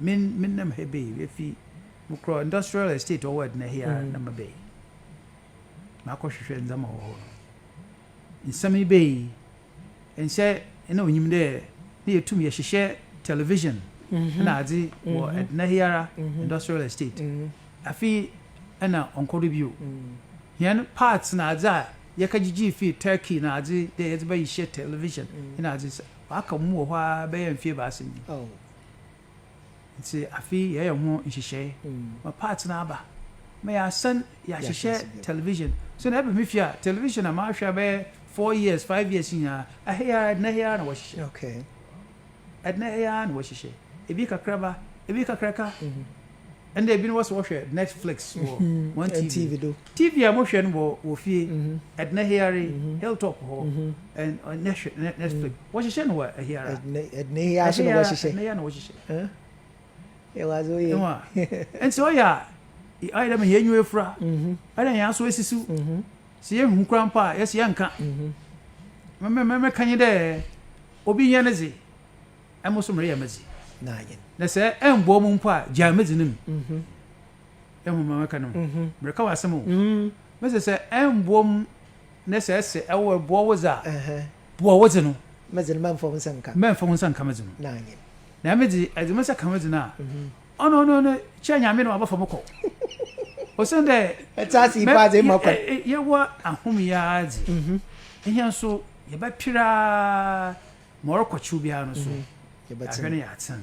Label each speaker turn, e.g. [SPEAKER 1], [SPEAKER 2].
[SPEAKER 1] Me me nam ha bɛyi bɛfi mo korɔ industrial estate ɔwɔ ɛdena hi a mm. na mabɛyi makɔhwehwɛ ndzɛma wɔ hɔ no nsɛm yi bɛyi nsɛ ɛna onyim dɛ ne yɛtum yɛhyehyɛ television mhm. na adze mhm. wɔ ɛdena hi ara mhm. industrial estate afi ɛna ɔnkɔ do bio hɛn parts na adze a yɛka gyigye fi turkey na adze dɛ yɛdze bɛyi hyɛ television na adze Wɔaka mu wɔ hɔ ara bɛyɛ mfe ebiasa ni. Ntsi afe yi yɛreyɛ ho nhyehyɛɛ ma parts no aba, ma yɛasan yɛahyehyɛ television. So na eba me fie a, television a mahwɛ bɛyɛ four years, five years nyinaa, ha yi ara, Edna ha yi ara na wɔhyehyɛ. Edna ha yi ara na wɔhyehyɛ. Bi kakraba, bi kakraka, ɛnna ebinom wɔ sɛ wɔhwɛ netflix wɔ wɔn tv do tv a wɔhwɛ no wɔ wɔ fie ɛdena hiare hilltop hɔ ɛnna hwɛ netflix wɔhyehyɛ no wɔ hiare ɛdena hiare so na wɔhyehyɛ ɛdena hiare na wɔhyehyɛ ɛwɔ adze oyɛ ɛwɔ nti ɔyɛ a ɔyɛ dɛ ma yɛn enyiwa efura ɔyɛ dɛ yɛn aso esisiw sɛ yɛn hu kura mpo a yɛsɛ yɛn nka mɛmɛmɛmɛ kan yi dɛ obi yɛn ne dze. Emo so mereyɛ medze no ayɛ. Na sɛ ɛmboa mo mpo a, gyaa medze no mu. Ehu ma meka no ho? Mereka w'asɛm o. Mese sɛ ɛmboa mu na sɛ ɛse ɛboa wo dze a, boa wo dze no. Medze no mɛmfa wo nsa nka. Mɛmfa wo nsa nka medze no. No ayɛ. Na eme dze, edze me nsa ka medze no a, ɔno ɔno ɔno kyɛ Nyame na ɔabɛfa mo kɔ. Osiandɛ. Ɛtse ase yi paa dze, emma kwan. Yɛwɔ ahom yi ara dze, hɛn so. yɛbɛpere ara ma ɔrekɔkyew biara no so, yɛahwɛ na yɛatsen.